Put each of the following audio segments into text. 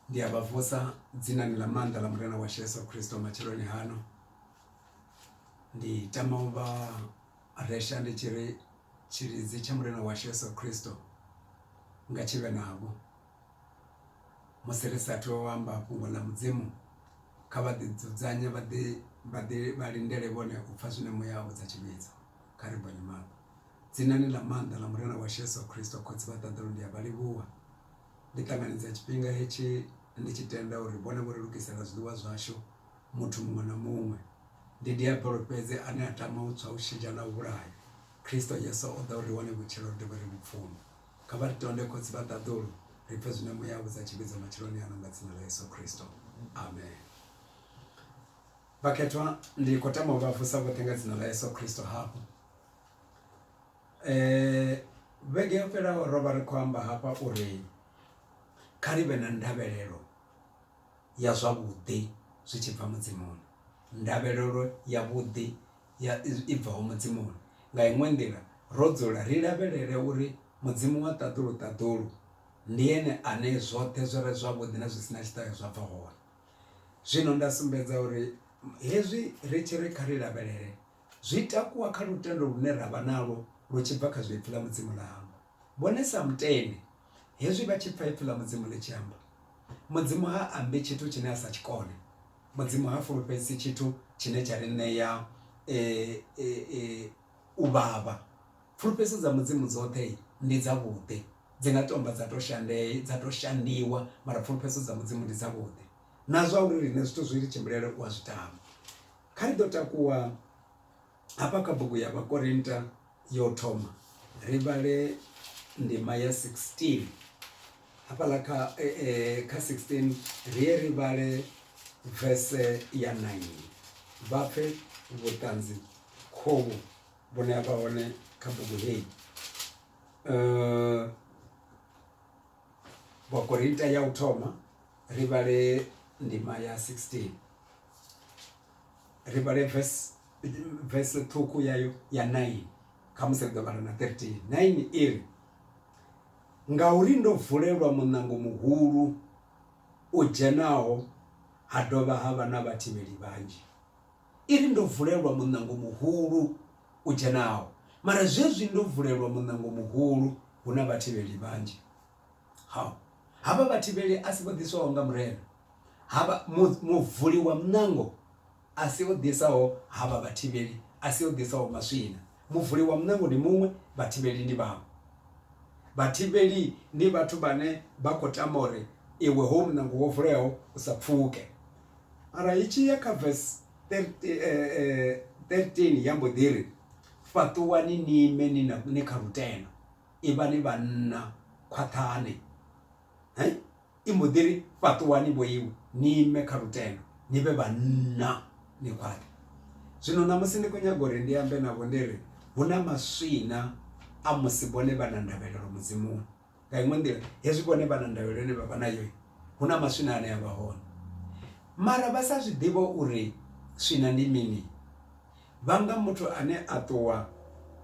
Ndi a vha vusa dzinani ḽa maanḓa ḽa Murena washu Yesu Kristo matsheloni hano. Ndi tama u vha resha ndi tshi ri tshilidzi tsha Murena washu Yesu Kristo nga tshi vhe navho. Musi ri sa athu u amba fhungo ḽa Mudzimu kha vha ḓi dzudzanye vha ḓi vha ḓi vha lindele vhone u pfha zwine muya wa vhudza tshivhidzo. Kha ri bvele maṱo. Dzinani ḽa maanḓa ḽa Murena washu Yesu Kristo, Khotsi vha ṱaḓulu, ndi a vha livhuwa. Ndi ṱanganedza tshifhinga hetshi ndi tshi tenda uri vhone vho ri lugisela zwiḽiwa zwashu, muthu muṅwe na muṅwe. Ndi Diabolo fhedzi ane a tama u tswa, u shidzha na u vhulaya. Kristo Yesu o ḓa uri ri wane vhutshilo, ri dovhe ri vhu pfume. Kha vha ri tonde, Khotsi vha ṱaḓulu, ri pfe zwine Muya a vhudza tshivhidzo matsheloni ano nga Dzina ḽa Yesu Kristo. Amen. Vhakhethwa, ndi khou tama u vha vusa vhoṱhe nga Dzina ḽa Yesu Kristo hafhu. Vhege yo fhelaho ro vha ri khou amba hafha uri kha ri vhe na ndavhelelo ya zwavhuḓi zwi tshi bva mudzimuni, ndavhelelo ya vhuḓi ya i bvaho mudzimuni nga iṅwe nḓila ro dzula ri lavhelele uri mudzimu wa ṱaḓulu ṱaḓulu ndi ene ane zwoṱhe zwi re zwavhuḓi na zwi si na tshiṱahe zwa bva hone. Zwino nda sumbedza uri hezwi ri tshi ri kha ri lavhelele. Zwi takuwa kha lutendo lune ra vha nalwo lu tshi bva kha zwe Ipfi ḽa Mudzimu ḽa amba. Vhone sa mutende, hezwi vha tshi pfa Ipfi ḽa Mudzimu ḽi tshi amba, Mudzimu ha ambi tshithu tshine a sa tshi kone. Mudzimu ha fulufhedzisi tshithu tshine tsha ri ṋea e, e, e, u vhavha. Fulufhedziso dza Mudzimu dzoṱhe ndi dzavhuḓi. Dzi nga tomba dza tou shande, dza tou shandiwa, mara fulufhedziso dza Mudzimu ndi dzavhuḓi. Na zwa uri riṋe zwithu zwi ri tshimbilele u a zwi tama. Kha ri ḓo takuwa hafha kha bugu ya Vhakorinta ya u thoma ri vhale ndima ya 16 hafhaḽa kha kha 16 ri ye ri vhale vese ya 9 vha pfe vhuṱanzi khovhu vhune ha vha hone kha bugu heyi. Vhakorinta ya u thoma ri vhale ndima ya 16 ri vhale verse verse ṱhukhu yayo ya 9 khamusi ri ḓo vhala na 13 9 iri ngauri ndo vulelwa muṋango muhulu u dzhenaho ha dovha ha vha na vhathivheli vhanzhi iri ndo vulelwa muṋango muhulu u dzhenaho mara zwezwi ndo vulelwa muṋango muhulu hu na vhathivheli vhanzhi Ha, havha vhathivheli a si vho ḓiswaho nga Murena, havha mu, muvuli wa muṋango a si o ḓisaho, havha vhathivheli a si o ḓisaho maswina. Muvuli wa muṋango ndi muṅwe, vhathivheli ndi vhaṅwe. Vhathivheli ndi vhathu vhane vha khou tama uri iwe hoyu muṋango wo vuleaho u sa pfuke. Mara i tshi ya kha vese 13 ya mbo ḓi ri, Fhaṱuwani ni ime ni na, ni kha lutendo. Ivhani vhanna khwaṱhani, i mbo ḓi ri fhaṱuwani vho iwe ni ime kha lutendo ni vhe vhanna ni khwaṱhe. Zwino ṋamusi ndi khou nyaga uri ndi ambe navho ndi ri hu na maswina a musi vhone vha na ndavhelelo Mudimuni. Nga iṅwe nḓila hezwi vhone vha na ndavhelelo ine vha vha nayo hu na maswina ane a vha hone mara vha sa zwi ḓivhe uri swina ndi mini. Vhanga muthu ane a ṱuwa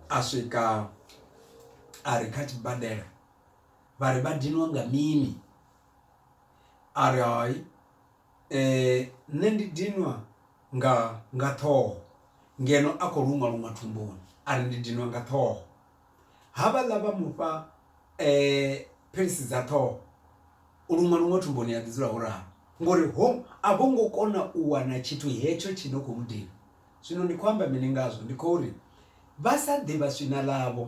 a swika a ri kha tshibadela vha ri vha dinwa nga mini a ri hai nṋe ndi dinwa nga nga ṱhoho ngeno a khou luṅwa luṅwa thumbuni a ri ndi dinwa nga ṱhoho. Havhaḽa vha mu fha philisi dza ṱhoho, u luṅwa luṅwe thumbuni ha ḓi dzula ho ralo ngori ho a vho ngo kona u wana tshithu hetsho tshi no khou mu dina. Zwino ndi khou amba mini ngazwo? Ndi khou ri vha sa ḓivha swina ḽavho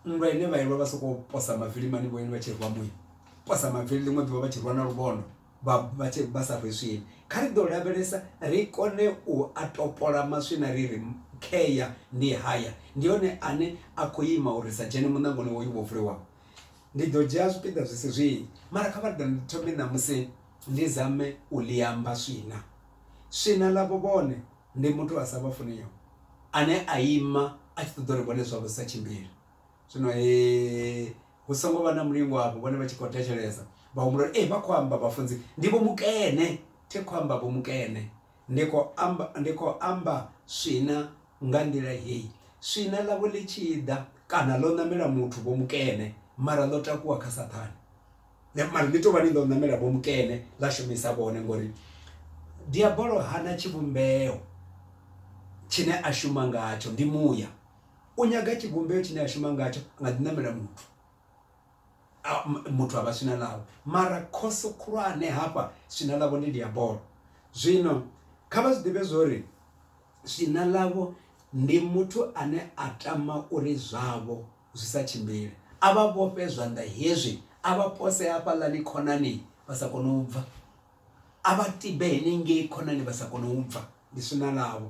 nndwa ine vha i lwa vha sokou posa mavili mani vho ine vha tshi rwa muya, posa mavili ḽiṅwe ḓuvha vha tshi rwa na luvhondo vha vha tshe vha sa rwi swina. Kha ri ḓo lavhelesa ri kone u a topola maswina ri ri, Khea ndi haya, ndi one ane a khou ima uri ri sa dzhene muṋangoni hoyu wo vuliwaho. Ndi ḓo dzhia zwipiḓa zwi si zwinzhi, mara kha vha ḓe ri thome ṋamusi ndi zame u ḽi amba swina. Swina ḽavho vhone ndi muthu a sa vha funiho ane a ima a tshi ṱoḓa uri vhone zwavho zwi sa tshimbile. Zwino he. Hu songo vha na mulingo afho, vhone vha tshi khou thetshelesa. Vha humbula uri, Ee, vha khou amba vhafunzi. Ndi Vho Mukene. Thi khou amba Vho Mukene. Ndi khou amba, ndi khou amba swina nga nḓila hei. Swina ḽavho ḽi tshi ḓa, kana ḽo ṋamela muthu Vho Mukene, mara ḽo takuwa kha Saṱhane. Mara ḽi tou vha ḽi ḽo ṋamela Vho Mukene, ḽa shumisa vhone, ngauri Diabolo hana tshivhumbeo tshine a shuma ngatsho, ndi muya. u nyaga tshivhumbeo tshine a shuma ngatsho a nga ḓi ṋamela muthu muthu a vha swina ḽawe mara khoso khulwane hafha swina ḽavho ndi diabolo zwino kha vha zwi ḓivhe zwori swina ḽavho ndi muthu ane a tama uri zwavho zwi sa tshimbile a vha vhofhe zwanḓa hezwi a vha pose hafhaḽani khonani vha sa kone u bva a vha tibe henengei khonani vha sa kone u bva ndi swina ḽavho.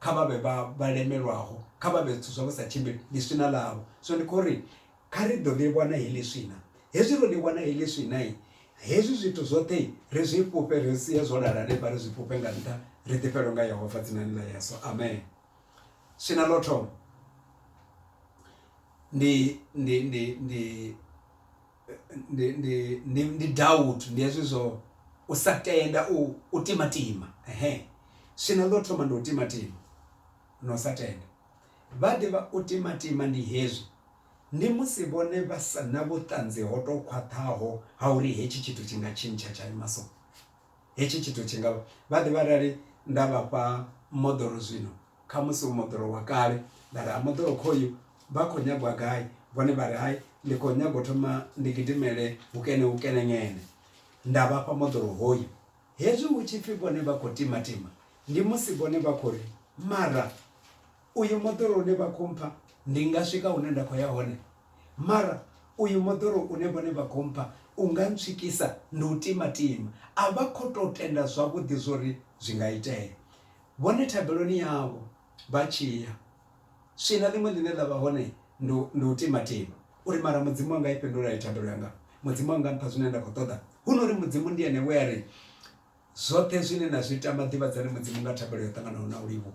kha vha vhe vha vha lemelwaho, kha vha vhe zwithu zwa vhu sa tshimbili, ndi swina ḽavho. Zwino ndi khou ri, kha ri ḓo ḽi wana heḽi swina. Hezwi ro ḽi wana heḽi swina, hezwi zwithu zwoṱhe ri zwi fhufhe, ri sie zwo lala hanefha, ri zwi fhufhe nga nṱha, ri ḓifhelwe nga Yehova Dzinani ḽa Yesu. Amen. Swina ḽa u thoma ndi, ndi, ndi, ndi, ndi ndi ndi ndi doubt ndi hezwi zwo u sa tenda u u timatima ehe swina ḽo thoma ndi u timatima na u sa tenda vha ḓivha u timatima ndi hezwi ndi musi vhone vha sa na vhuṱanzi ho to khwaṱhaho ha uri hetshi tshithu tshi nga tshintsha tsha ima so. Hetshi tshithu tshi nga vha. Vha ḓivha arali nda vha fha moḓoro zwino, khamusi u moḓoro wa kale, nda ri, Ha, moḓoro khoyu, vha khou nyaga u ya gai? Vhone vha ri, Hai, ndi khou nyaga u thoma ndi gidimele hukene hukene ngene. Nda vha fha moḓoro hoyu. Hezwi hu tshi pfi vhone vha khou timatima, ndi musi vhone vha khou ri, Mara. Uyu moḓoro une vha khou mpha, ndi nga swika hune nda khou ya hone? Mara uyu moḓoro une vhone vha khou mpha u nga ntswikisa, ndi u timatima. A vha khou tou tenda zwavhuḓi zwo ri zwi nga itea. Vhone thabeloni yavho vha tshi ya, swina ḽiṅwe ḽine ḽa vha hone ndi, ndi u timatima. U ri, Mara Mudzimu wanga i fhindula hani thabelo yanga? Mudzimu wanga mpha zwine nda khou ṱoḓa. Hu no ri Mudzimu ndi Ene we a ri, Zwoṱhe zwine na zwi tama, ḓivhadzani Mudzimu nga thabelo yo ṱanganaho na u livhuwa.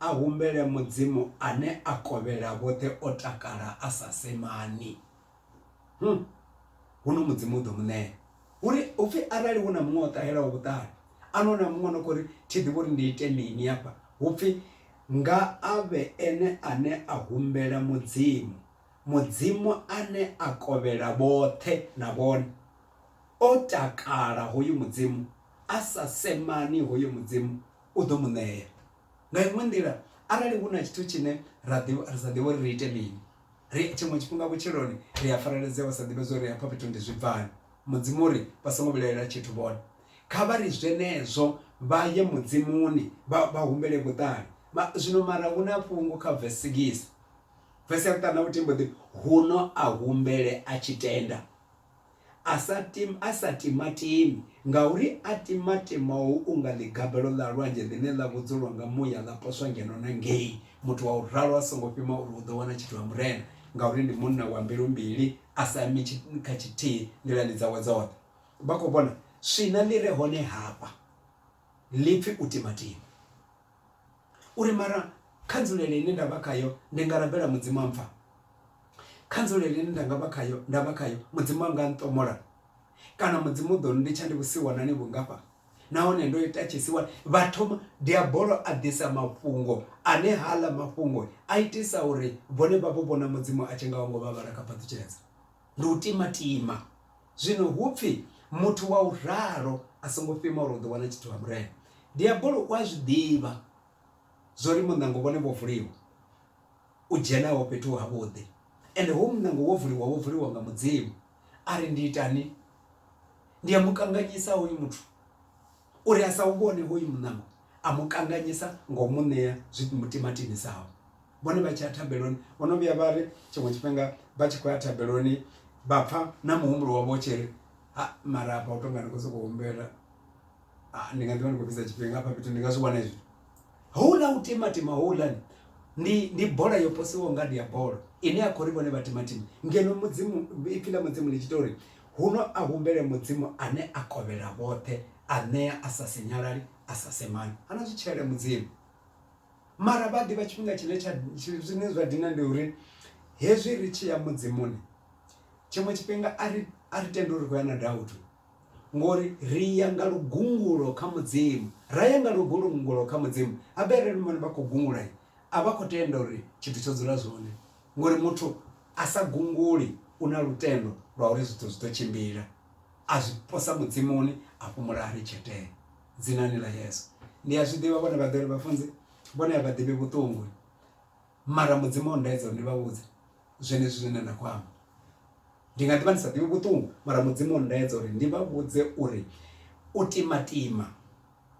A humbele Mudzimu ane a kovhela vhoṱhe o takala a sa semani. Hum! Huno Mudzimu u ḓo mu ṋea. Hu ri, hu pfi arali hu na muṅwe o ṱahelaho vhuṱali, a no na muṅwe a no khou ri, Thi ḓivhi uri ndi ite mini hafha, hu pfi, Nga a vhe ene ane a humbela Mudzimu, Mudzimu ane a kovhela vhoṱhe, na vhone, o takala, hoyu Mudzimu a sa semani, hoyo Mudzimu u ḓo mu ṋea. Nga iṅwe nḓila, arali hu na tshithu tshine ra sa ḓivhi uri ri ite mini, ri tshiṅwe tshifhinga vhutshiloni ri a fareledzea u sa ḓivha zwa uri hafha fhethu ndi zwi bvani. Mudzimu u ri, Vha songo vhilaela tshithu vhone. Kha vha ri zwenezwo vha ye Mudzimuni vha humbele vhuṱali. Zwino mara hu na fhungo kha vesi sigisi, vesi ya vhuṱanu na vhuthihi mbo ḓi ri, Huno a humbele a tshi tenda. A sa tim, a sa timatimi, ngauri a timatimou unga ḽigabelo ḽa lwanzhe ḽine ḽa vhudzulwa nga muya ḽa poswa ngeno na ngei. Muthu wa u ralo a songo fhima uri u ḓo wana tshithu ha Murena, ngauri ndi munna wa mbilu mbili, a sa imi kha tshithihi nḓilani dzawe dzoṱhe. Vha khou vhona? Swina ḽi re hone hafha ḽi pfi u timatima. U ri, Mara kha nzulele ine nda vha khayo ndi nga rabela Mudzimu a mpfa. Kha nzulele ine nda nga vha khayo, nda vha khayo, Mudzimu a nga nṱomola. Kana Mudzimu u ḓo nnditsha ndi vhusiwanani vhungafha nahone ndo ita tshisiwana. Vha thoma, Diabolo a ḓisa mafhungo ane haaḽa mafhungo a itisa uri vhone vha vho vhona Mudzimu a tshi nga ho ngo vha vhala kha phaṱutshedza. Ndi u timatima. Zwino hu pfi muthu wa u ralo a songo fhima uri u ḓo wana tshithu ha Murena. Diabolo u a zwi ḓivha zwa uri muṋango wone wo vuliwa u dzhenaho fhethu havhuḓi, ende hoyu muṋango wo vuliwa wo vuliwa nga Mudzimu. A ri, Ndi itani? Ndi a mu kanganyisa hoyu muthu uri a sa u vhone hoyu muṋango. A mu kanganyisa nga u mu ṋea zwi mu timatimisaho. vhone vha tshi ya thabeloni vho no vhuya vha ri tshiṅwe tshifhinga vha tshi khou ya thabeloni vha pfha na muhumbulo wavho tshi ri ha mara afha u tonga ndi khou sokou humbela ndi nga ḓivha ndi khou fhedza tshifhinga hafha fhethu ndi nga zwi wana hezwi houḽa u timatima houḽani ndi ndi bola yo posiwaho nga ndi ya bola ine ya khou ri vhone vha timatima ngeno mudzimu ipfhi ḽa mudzimu ḽi tshi ita uri huno a humbele mudzimu ane a kovhela vhoṱhe a ṋea a sa sinyalali a sa semani hana zwi tshele mudzimu Mara vha ḓivha tshifhinga tshine tsha zwine zwa dina ndi uri hezwi ri tshi ya mudzimuni tshiṅwe tshifhinga a ri a ri tendi uri khou ya na dautu ngori ri ya nga lugungulo kha mudzimu ra ya nga lugungulo kha mudzimu habe arali vhone vha khou gungula a vha khou tenda uri tshithu tsho dzula zwone ngori muthu a sa gunguli u na lutendo lwa uri zwithu zwi ḓo tshimbila a zwi posa mudzimuni a fhumula a ri tshetee dzinani ḽa Yesu. Ndi a zwi ḓivha vhone vha ḓori vhafunzi vhone a vha ḓivhi vhuṱungu mara mudzimu o ndaedza uri ndi vha vhudze zwenezwi zwine nda khou amba ndi nga ḓivha ndi sa ḓivhi vhuṱungu mara mudzimu o ndaedza uri ndi vha vhudze uri u timatima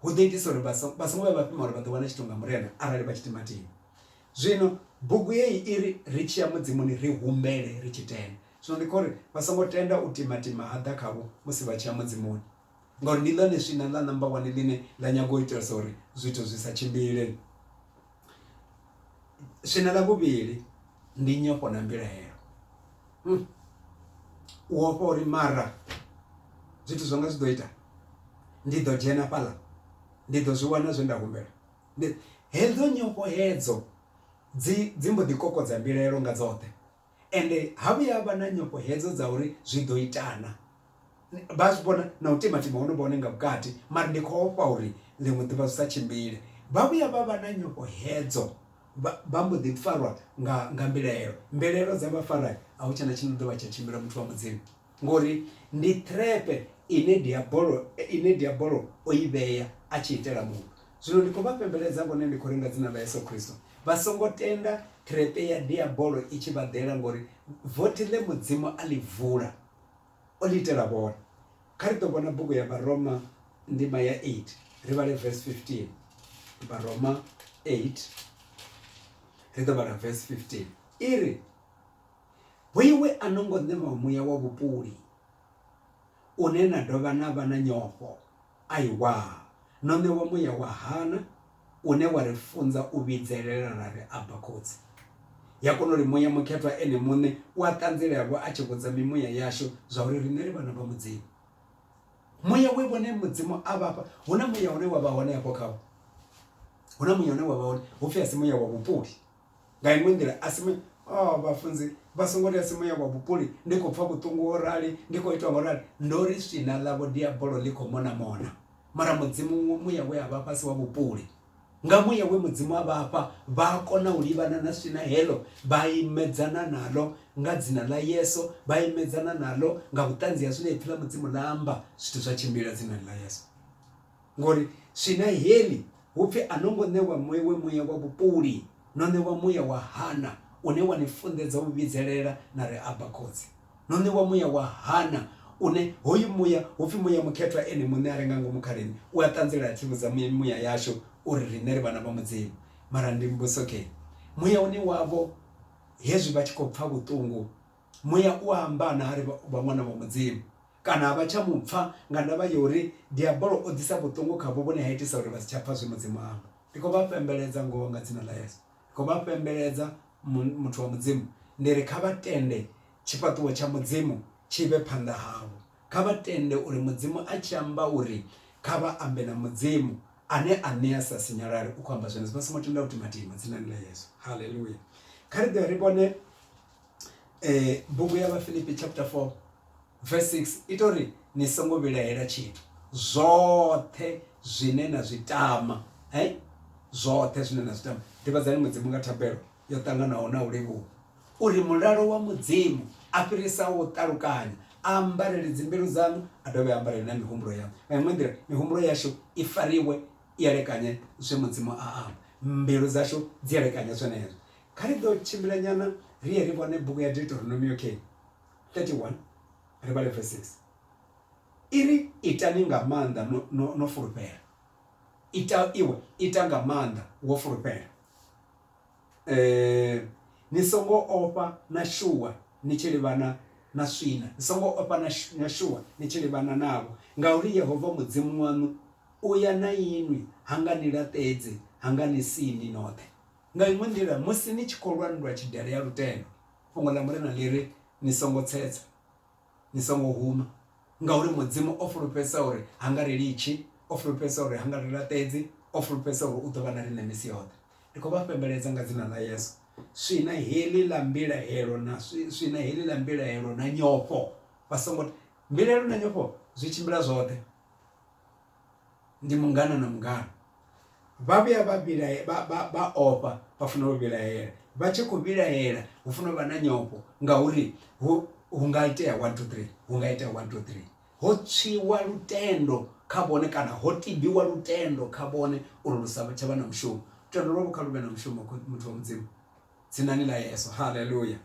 hu ḓo itisa uri vha songo vha songo vhuya vha fhima uri vha ḓo wana tshithu nga murena arali vha tshi timatima. Zwino bugu heyi i ri ri tshiya mudimoni ri humbele ri tshi tenda zwino ndi kho uri vha songo tenda u timatima ha ḓa khavho musi vha tshiya mudzimoni. ngauri ndi ḽone swina ḽa number one ḽine ḽa nyaga u itela uri zwithu zwi sa tshimbile swina ḽa vhuvhili ndi nyofho na mbilahelo hmm. u ofha uri mara zwithu zwanga zwi ḓo ita ndi ḓo dzhena fhaḽa ndi ḓo zwi wana zwe nda humbela ndi hedzo nyofho hedzo dzi dzi mbo ḓi kokodza mbilaelo nga dzoṱhe ende ha vhuya vha na nyofho hedzo dza uri zwi ḓo itana vha zwi vhona na u timatima hone vhone nga vhukati mara ndi khou ofha uri ḽiṅwe ḓuvha zwi sa tshimbile vha vhuya vha vha na nyofho hedzo vha mbo ḓi farwa nga nga mbilaelo mbilaelo dza vha fara a hu tshena tshine ḓovha tsha tshimbila muthu wa mudzimu ngori ndi threpe ine diabolo ine diabolo o i vhea a tshi itela muṅwe zwino ndi khou vha fhembeledza vhone ndi khou ri nga dzina ḽa Yesu Kristo vha songo tenda threpe ya diabolo i tshi vha ḓela ngori vothi ḽe mudzimu a ḽi vula O ḽi itela vhone. Kha ri ḓo vhona bugu ya Vharoma ndima ya 8, ri vhale verse 15. Vharoma 8, ri ḓo vhala verse 15. I ri, Hoiwe a no ngo ṋewa muya wa vhupuli, une na dovha na vha na nyofho. Aiwa, no ṋewa muya wa hana une wa ri funza u vhidzelela ra ri, Abba, Khotsi. Ya kona uri Muya Mukhethwa Ene muṋe u a ṱanzilelwa a tshi vhudza mimuya yashu zwauri riṋe ri vhana vha Mudzimu. Muya we vhone Mudzimu a vha fha, hu na muya une wa vha hone afho khavho. Hu na muya une wa vha hone, hu pfi a si muya wa vhupuli. Nga inwe nḓila, a si. O, vhafunzi vha songo ri a si muya wa vhupuli, ndi khou pfa vhuṱungu ho rali, ndi khou itwa ngo rali. Ndo ri, Swina ḽavho Diabolo ḽi khou mona mona. Mara Mudzimu, muya we a vha fha si wa vhupuli. Nga muya we Mudzimu a vha fha, vha a kona u livhana na swina heḽo, vha imedzana naḽo nga Dzina ḽa Yesu, vha imedzana naḽo nga vhuṱanzi ha zwine Ipfi ḽa Mudzimu ḽa amba. Zwithu zwa tshimbila Dzinani ḽa Yesu. ngori swina heḽi hu pfi a no ngo ṋewa mwewe muya wa vhupuli, no ṋewa muya wa Hana une wa ni funḓedza u vhidzelela na ri Abba Khotsi. No ṋewa muya wa Hana une hoyu muya hu pfi muya mukhethwa ene muṋe a re nga ngomu kha riṋe u a ṱanzela a thivhudza mimuya yashu uri riṋe ri vhana vha Mudzimu. Mara ndi mbudzokee, muya une wavho hezwi vha tshi khou pfa vhuṱungu, Muya u a amba naa ri vha ṅwana wa Mudzimu? Kana a vha tsha mu pfa nga ndavha ya uri Diabolo o ḓisa vhuṱungu khavho vhune ha itisa uri vha si tsha pfa zwe Mudzimu a amba? Ndi khou vha fhembeledza ngoho nga dzina ḽa Yesu. Ndi khou vha fhembeledza, mu, muthu wa Mudzimu. Ndi ri kha vha tende tshifhaṱuwo tsha Mudzimu tshi vhe phanḓa havho. Kha vha tende uri Mudzimu a tshi amba uri kha vha ambe na Mudzimu, Ane a ṋea a sa sinyalali, u khou amba zwenezwo. Vha songo tenda u timatima, dzinani ḽa Yesu. Haleluya! Kha ri ḓe ri vhone. eh bugu ya vhafilipi chapter 4 verse 6 ita uri ni songo vhilahela tshithu zwoṱhe zwine na zwi tama eh zwoṱhe zwine na zwi tama ḓivhadzani mudzimu nga thabelo yo ṱanganaho na u livhuwa uri mulalo wa mudzimu a fhirisa u ṱalukanya a ambarele dzimbilu dzaṋu a dovhe a ambarele na mihumbulo yaṋu nga iṅwe nḓila mihumbulo yashu i fariwe i elekanye zwe mudzimu a amba mbilu dzashu dzi elekanye zwenezwo Kha ri ḓo tshimbila nyana ri ye ri vhone bugu ya Deuteronomio key 31 ri vhale verse 6 iri itani nga maanḓa no, no, no fulufhela ita iwe ita nga maanḓa wo fulufhela eh ni songo ofha na shuwa ni tshi livhana na swina ni songo ofha na shuwa ni tshi livhana navho ngauri yehova mudzimu waṋu u ya na inwi ha nga ni laṱedze ha nga ni sindi noṱhe Nga iṅwe nḓila, musi ni tshi khou lwa nndwa ya tshidele ya lutendo, Fhungo ḽa Mulimu ḽi ri, Ni songo tsetsa, ni songo huma, ngauri Mudzimu o fulufhedzisa uri ha nga ri litshi, o fulufhedzisa uri ha nga ri laṱedzi, o fulufhedzisa uri u ḓo vha na riṋe misi yoṱhe. Ndi khou vha fhembeledza nga Dzina ḽa Yesu, swina heḽi ḽa mbilahelo na swina heḽi ḽa mbilahelo na nyofho vha songo. Mbilahelo na nyofho zwi tshimbila zwoṱhe. ndi mungana na mungana vha vhuya vha vhilae vha vha vha ofha vha fanela u vhilahela vha tshi khou vhilahela hu fanela u vha na nyofho ngauri hu hu nga itea one two three hu nga itea one two three ho tswiwa lutendo kha vhone kana ho tibiwa lutendo kha vhone uri lu sa tsha vha na mushumo lutendo lwavho kha luvhe na mushumo kho muthu wa mudzimu dzinani ḽa yeso haleluya.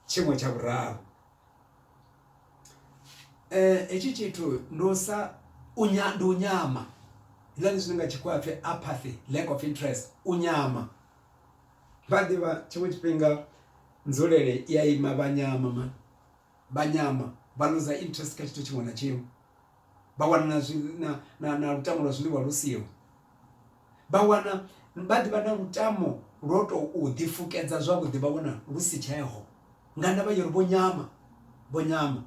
Tshiṅwe tsha vhuraru. hetshi tshithu ndi u sa u nya ndi u nyama hezwiḽani zwine nga tshikhuwa hapfi apathy lack of interest u nyama vha ḓivha tshiṅwe tshifhinga nzulele i ya ima vha nyama mani vha nyama vha luza interest kha tshithu tshiṅwe na tshiṅwe vha wana na zwi na lutamo lwa zwiḽiwa lu siho. Vha wana vha ḓivha na lutamo lwo tou ḓifukedza zwavhuḓi vha wana lu si tsheho, nga ndavha ya uri vho nyama, vho nyama.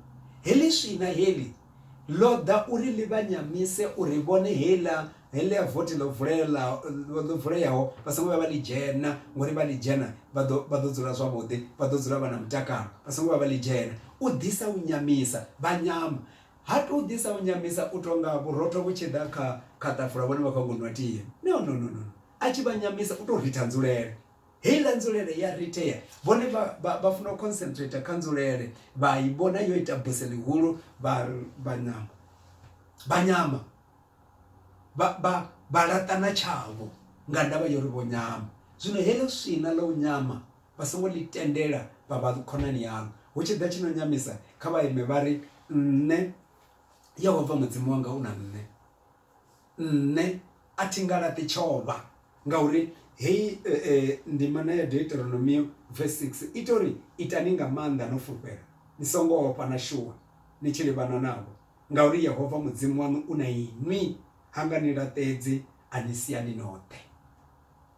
Heḽi swina heḽi ḽo ḓa uri ḽi vha nyamise uri vhone heiḽa heḽia vothi ḽo vulela ḽo vuleyaho vha songo vhuya vha ḽi dzhena ngori vha ḽi dzhena vha ḓo vha ḓo dzula zwavhuḓi vha ḓo dzula vha na mutakalo vha songo vhuya vha ḽi dzhena. U ḓisa u nyamisa vha nyama Ha tou ḓisa u nyamisa u tou nga vhurotho vhu tshi ḓa kha kha ṱafula vhone vha khou nyago u nwa tie. No, no, no, no, a tshi vha nyamisa u tou ritha nzulele. Heiḽa nzulele ya ritea, vhone vha, vha, vha funa u concentrator kha nzulele, vha i vhona yo ita buse ḽihulu, vha, vha nyama. Vha nyama. Vha, vha, vha laṱana tshavho nga ndavha ya uri vho nyama. Zwino heḽo swina ḽa u nyama, Vha songo ḽi tendela vha vha khonani yaṋu. Hu tshi ḓa tshi no nyamisa, kha vha ime vha ri, Nṋe Yehova Mudzimu wanga u na nṋe. Nṋe a thi nga laṱi tshovha. Ngauri heyi ndimana ya Deuteronomio vesi 6 i tou ri, Itani nga maanḓa no fulufhela, ni songo ofha na shuwa ni tshi livhana navho, ngauri Yehova Mudzimu waṋu u na inwi, ha nga ni laṱedzi, a ni sia ni noṱhe.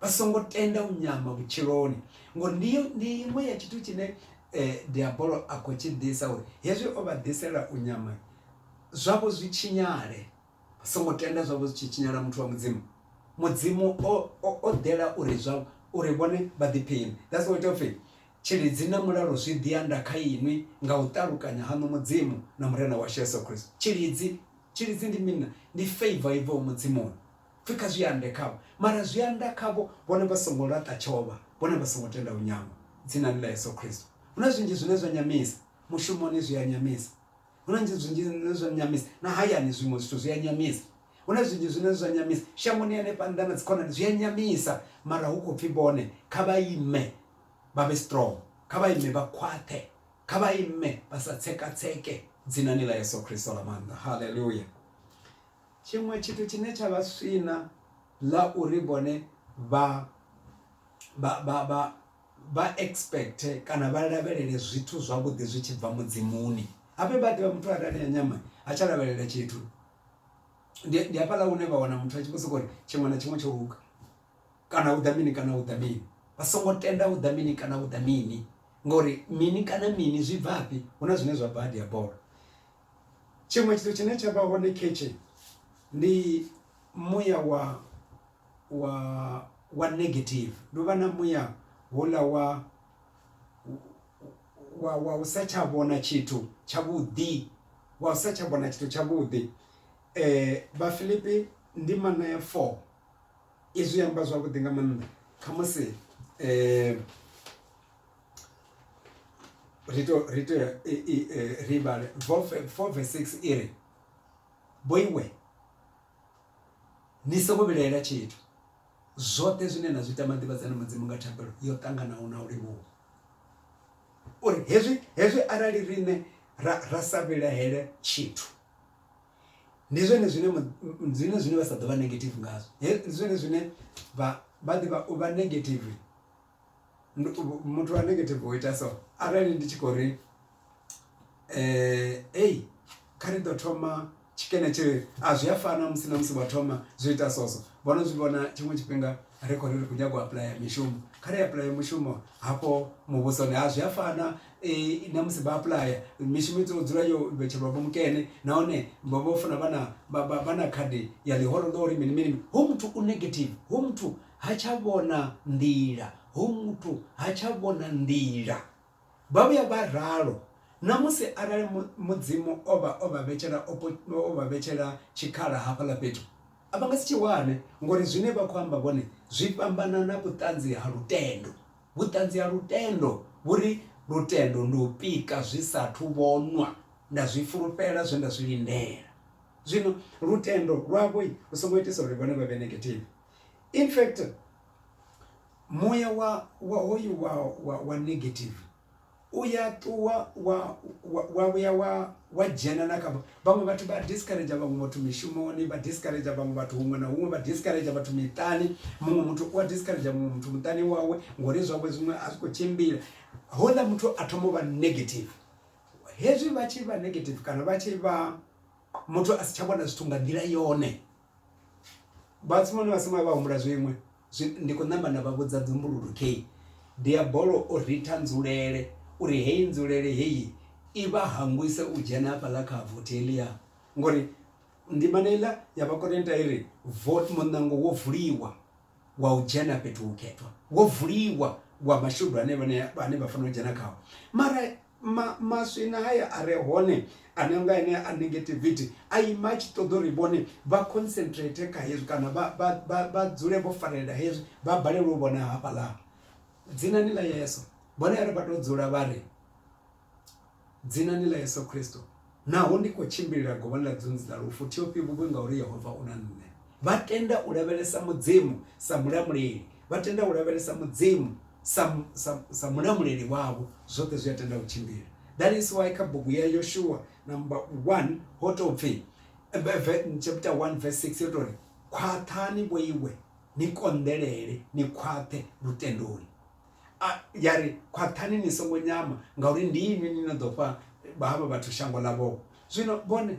vha songo tenda u nyama vhutshiloni ngori ndi ndi iṅwe ya tshithu tshine eh, diabolo a khou tshi ḓisa uri hezwi o vha ḓisela u nyama zwavho zwi tshinyale vha songo tenda zwavho zwi tshi tshinyala muthu wa mudzimu mudzimu o o- o ḓela uri zwa uri vhone vha ḓiphiṋe that's what of it tshilidzi na mulalo zwi ḓi anda kha inwi nga u ṱalukanya haṋu mudzimu na murena washu yesu kristo tshilidzi tshilidzi ndi mina ndi favor ibvaho mudzimuni Pfi kha zwi ande khavho, mara zwi anda khavho vhone vha songo laṱa tshovha, vhone vha songo tenda u nyama. Dzinani ḽa Yesu Kristo. Hu na zwinzhi zwine zwa nyamisa. Mushumoni zwi a nyamisa. Hu na zwinzhi zwine zwa nyamisa. Na hayani zwiṅwe zwithu zwi a nyamisa. Hu na zwinzhi zwine zwa nyamisa. Shangoni hanefha nnḓa na dzikhonani zwi a nyamisa, mara hu khou pfi vhone kha vha ime vha vhe strong, kha vha ime vha khwaṱhe, kha vha ime vha sa tsekatseke, Dzinani ḽa Yesu Kristo ḽa maanḓa. Haleluya! Tshiṅwe tshithu tshine tsha vha swina ḽa uri vhone vha vha vha vha vha expect kana vha lavhelele zwithu zwavhuḓi zwi tshi bva mudzi-muni habe vha ḓivha muthu arali a nyama ha tsha lavhelela tshithu ndi hafhaḽa hune vha wana muthu a tshi vho soko uri tshiṅwe na tshiṅwe tsho luga kana hu ḓa mini kana hu ḓa mini vha songo tenda u ḓa mini kana u ḓa mini ngori mini kana mini zwi bvafhi hu na zwine zwa bva ha dia bola. Tshiṅwe tshithu tshine tsha vha hone khetshe ndi muya wa wa wa negative ndi u vha na muya houḽa wa wa wa u sa tsha vhona tshithu tshavhuḓi wa u sa tsha vhona tshithu tshavhuḓi. Vhafilipi ndimana ya four izwi amba zwavhuḓi nga maanḓa khamusi . ri to ri to ri vhale four four verse six iri vho iwe ni songo vhilaela tshithu zwoṱhe zwine na zwi tama ḓivhadzana mudzimu nga thabelo yo ṱanganaho na u livhuwa uri hezwi hezwi arali riṋe ra ra sa vhilahele tshithu ndi zwone zwine mu- zwine zwine vha sa ḓo vha negative ngazwo He- ndi zwone zwine vha vha ḓivha u vha negative muthu wa negative u ita so arali ndi tshi khou ri ei kha ri ḓo thoma tshikene tshi a zwi a fana musi na musi wa thoma zwi ita so so vho no zwi vhona tshiṅwe tshifhinga ri khou ri ri khou nyanga u apuḽaya mishumo kha ri apuḽaya mushumo hafho muvhusoni a zwi a fana na musi vha apuḽaya mishumo i tea u dzula yo vhetshelwa vho mukene nahone vha vho funa vha na vha na khadi ya ḽihoro ḽa uri mini mini hoyu muthu u negative hoyu muthu. ha tsha vhona nḓila, hoyu muthu ha tsha vhona nḓila. Vha vhuya vha ralo na musi arali Mudzimu o vha o vha vhetshela o vha vhetshela tshikhala hafhaḽa fhethu, a vha nga si tshi wane ngori zwine vha khou amba vhone zwi fhambana na vhuṱanzi ha lutendo. Vhuṱanzi ha lutendo vhu ri, Lutendo ndi u pika zwi sa athu vhonwa, nda zwi fulufhela zwe nda zwi lindela. Zwino lutendo lwavho lu songo itisa uri vhone vha vhe negative. in fact muya wa wa hoyu wa wa, wa negative uya ṱuwa wa wa vhuya wa wa dzhena na kha vhaṅwe vhathu vha discourage vhaṅwe vhathu mishumoni vha discourage vhaṅwe vhathu huṅwe na huṅwe vha discourage vhathu miṱani muṅwe muthu u a discourage muṅwe muthu muṱani wawe ngori zwawe zwiṅwe a zwi khou tshimbila houḽa muthu a thoma u vha negative hezwi vha tshi vha negative kana vha tshi vha muthu a si tsha vhona zwithu nga nḓila yone Vhathu vhane vha songo vhuya vha humbula zwiṅwe zwi ndi khou namba nda vha vhudza dzumbululu kheyi diabolo o ritha nzulele uri heyi nzulele heyi i vha hangwisa u dzhena hafhaḽa kha vothi heḽia ngori ndimana heiḽa ya vha ya ita uri vothi muṋango wo vuliwa. wa u dzhena fhethu hukhethwa wo vuliwa wa mashudu ane vhane vhane vha fanela u dzhena khawo mara ma, maswina haya a re hone ane nga ene a negativity a ima a tshi ṱoḓa uri vhone vha concentrate kha hezwi kana vha vha vha, vha dzule vho farelela hezwi vha balelwe u vhona hafhaḽa dzinani ḽa Yesu vhone a ri vha to dzula vha ri Dzinani ḽa Yesu Kristo, naho ndi khou tshimbilila govhoni ḽa dzunzi ḽa lufu, thi ofhi vhuvhi ngauri Yehova u na nṋe. Vha tenda u lavhelesa Mudzimu sa Mulamuleli, vha tenda u lavhelesa Mudzimu sa, sa, sa Mulamuleli wavho, zwoṱhe zwi a tenda u tshimbila. That is why kha bugu ya Yoshua number 1 ho tou pfi, chapter 1 verse 6 yo tou ri, Khwaṱhani vhoiwe, ni konḓelele, ni khwaṱhe lutendoni. A, ya ri, Khwaṱhani ni songo nyama, ngauri ndi inwi ni no ḓo fha havha vhathu shango ḽavho. Zwino vhone,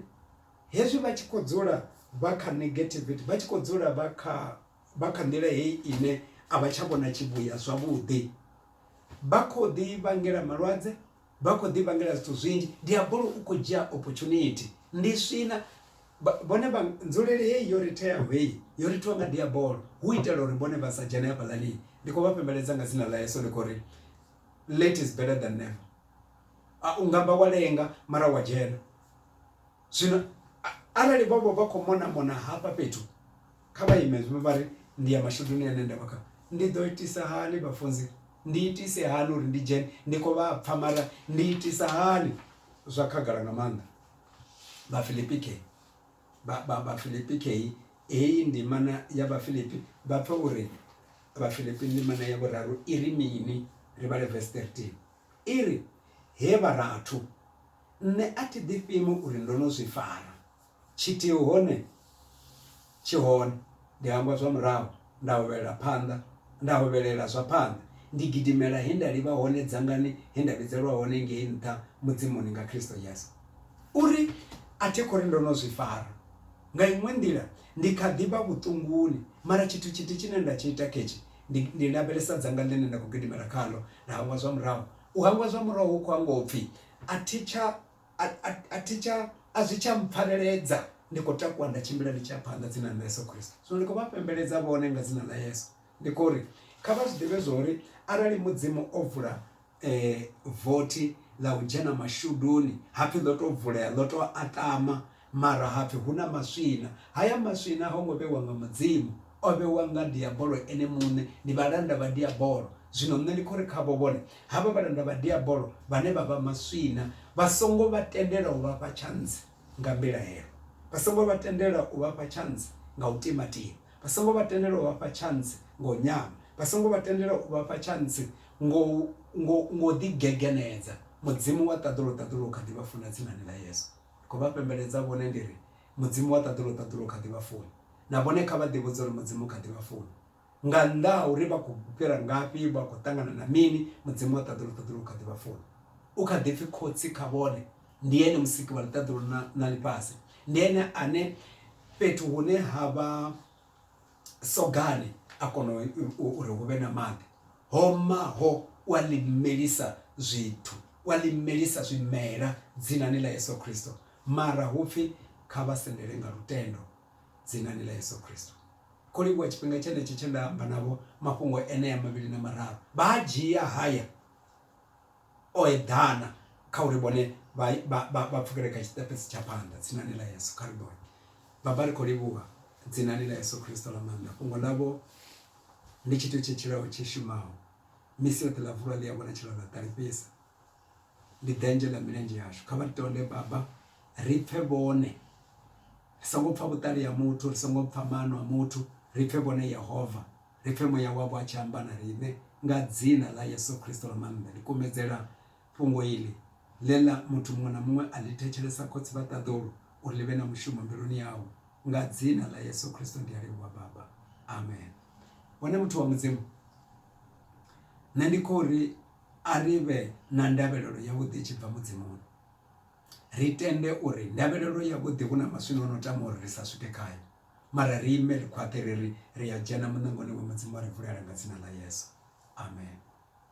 hezwi vha tshi khou dzula vha kha negativity, vha tshi khou dzula vha kha vha kha nḓila heyi ine a vha tsha vhona tshivhuya zwavhuḓi, vha khou ḓi vhangela malwadze, vha khou ḓi vhangela zwithu zwinzhi diabolo u kho dzhia opportunity ndi swina vhone vha nzulele heyi yo ri theaho heyi yo ri thonga diabolo hu itela uri vhone vha sa dzhene hafha ḽani ndi khou vha fhembeledza nga dzina ḽa Yesu ndi khou ri late is better than never a u nga vha wa lenga mara wa dzhena zwino arali vho vha vha kho mona mona hafha fhethu Kha vha ime zwino vha ri, Ndi ya mashuduni ane nda vha khao. Ndi ḓo itisa hani vhafunzi? Ndi itise hani uri ndi dzhene? Ndi khou vha pfa, mara ndi itisa hani? Zwa khagala nga maanḓa. Vhafilipi khe, vha, vha, Vhafilipi khe, heyi ndimana ya Vhafilipi, vha pfe uri Vhafilipi ndimana ya vhuraru i ri mini? Ri vhale vesi 13. I ri, He vharathu, nṋe a thi ḓifhimi uri ndo no zwi fara. Tshithihi hone tshi hone, ndi hangwa zwa murahu nda hovhelela phanḓa, nda hovhelela zwa phanḓa, ndi gidimela he nda livha hone dzangani he nda vhidzelwa hone ngei nṱha Mudzimuni nga Kristo Yesu. Uri a thi khou ri ndo no zwi fara. Nga iṅwe nḓila, ndi kha ḓi vha vhuṱunguni, mara tshithu tshithihi tshine nda tshi ita khetshi, ndi, ndi lavhelesa dzanga ḽine nda khou gidimela khaḽo, nda hangwa zwa murahu. U hangwa zwa murahu hu khou amba u pfi a thi tsha a, a, a, thi tsha, a zwi tsha mpfareledza ndi khou takuwa nda tshimbila ndi tshi ya phanḓa dzina ḽa yesu khristo zwino ndi khou vha pembeledza vhone nga dzina ḽa yesu ndi khou ri kha vha zwi ḓivhe zwa uri arali mudzimu o vula um vothi ḽa u dzhena mashuduni hapfi ḽo tou vulea ḽo tou atama Mara ha pfi hu na maswina. Haya maswina ho ngo vhewa nga Mudzimu, o vhewa nga Diabolo ene muṋe. Ndi vhalanda vha Diabolo. Zwino nṋe ndi khou ri khavho, vhone, havha vhalanda vha Diabolo vhane vha vha maswina, vha songo vha tendela u vha fha tshantsi nga mbilahelo. Vha songo vha tendela u vha fha tshantsi nga u timatima. Vha songo vha tendela u vha fha tshantsi nga u nyama. Vha songo vha tendela u vha fha tshantsi ngo, ngo, ngo ḓigegenedza. Mudzimu wa ṱaḓulu, ṱaḓulu u kha ḓi vha funa dzinani ḽa Yesu. Ndi khou vha pembeledza vhone ndi ri, Mudzimu wa ṱaḓulu ṱaḓulu u kha ḓi vha funa. Na vhone kha vha ḓivhudze uri Mudzimu u kha ḓi vha funa. Nga nnḓa ha uri vha khou fhira ngafhi, vha khou ṱangana na mini, Mudzimu wa ṱaḓulu ṱaḓulu u kha ḓi vha funa. U kha ḓi pfi Khotsi kha vhone. Ndi Ene Musiki wa ḽiṱaḓulu na ḽifhasi. Ndi Ene ane fhethu hune ha vha. sogani a kona uri hu vhe na maḓi ho maho u a ḽi melisa zwithu u a ḽi melisa zwimela dzinani ḽa Yeso Khristo mara hupfi kha vha sendele nga lutendo dzinani ḽa Yeso Khristo. Kho livhuwa tshifhinga tshenetsho tshe nda amba navho mafhungo enea mavhili na mararu vha a dzhia haya O eḓana kha uri vhone vha, vha, vha, vha pfukele kha tshiṱepesi tsha phanḓa, dzinani ḽa Yesu. Kha ri vhone. Baba, ri khou livhuwa, dzinani ḽa Yesu Kristo ḽa maanḓa. Fhungo ḽavho ndi tshithu tshi tshilaho tshi shumaho. Misi yoṱhe ḽa vulwa ḽi a vhonatshela ḽa ṱalifhisa. Ndi ḓenzhe ḽa milenzhe yashu. Kha vha ri tonde, Baba, ri pfe vhone. Ri songo pfa vhuṱali ha muthu, ri songo pfa maano a muthu, ri pfe vhone Yehova. Ri pfe Muya wavho a tshi amba na riṋe. Nga Dzina ḽa Yesu Kristo ḽa maanḓa, ndi kumedzela fhungo iḽi, ḽe ḽa muthu muṅwe na muṅwe a ḽi thetshelesa, Khotsi vha ṱaḓulu, uri ḽi vhe na mushumo mbiluni yawe. Nga Dzina ḽa Yesu Kristo ndi a livhuwa, Baba. Amen. Hone, muthu wa Mudzimu, nṋe ndi khou ri a ri vhe na ndavhelelo yavhuḓi i tshi bva Mudzimuni. Ri tende uri ndavhelelo yavhuḓi hu na maswina o no tama uri ri sa swike khayo. mara ri ime ri khwaṱhe ri ri ri a dzhena muṋangoni wa mudzimu a ri vulela nga dzina ḽa yesu amen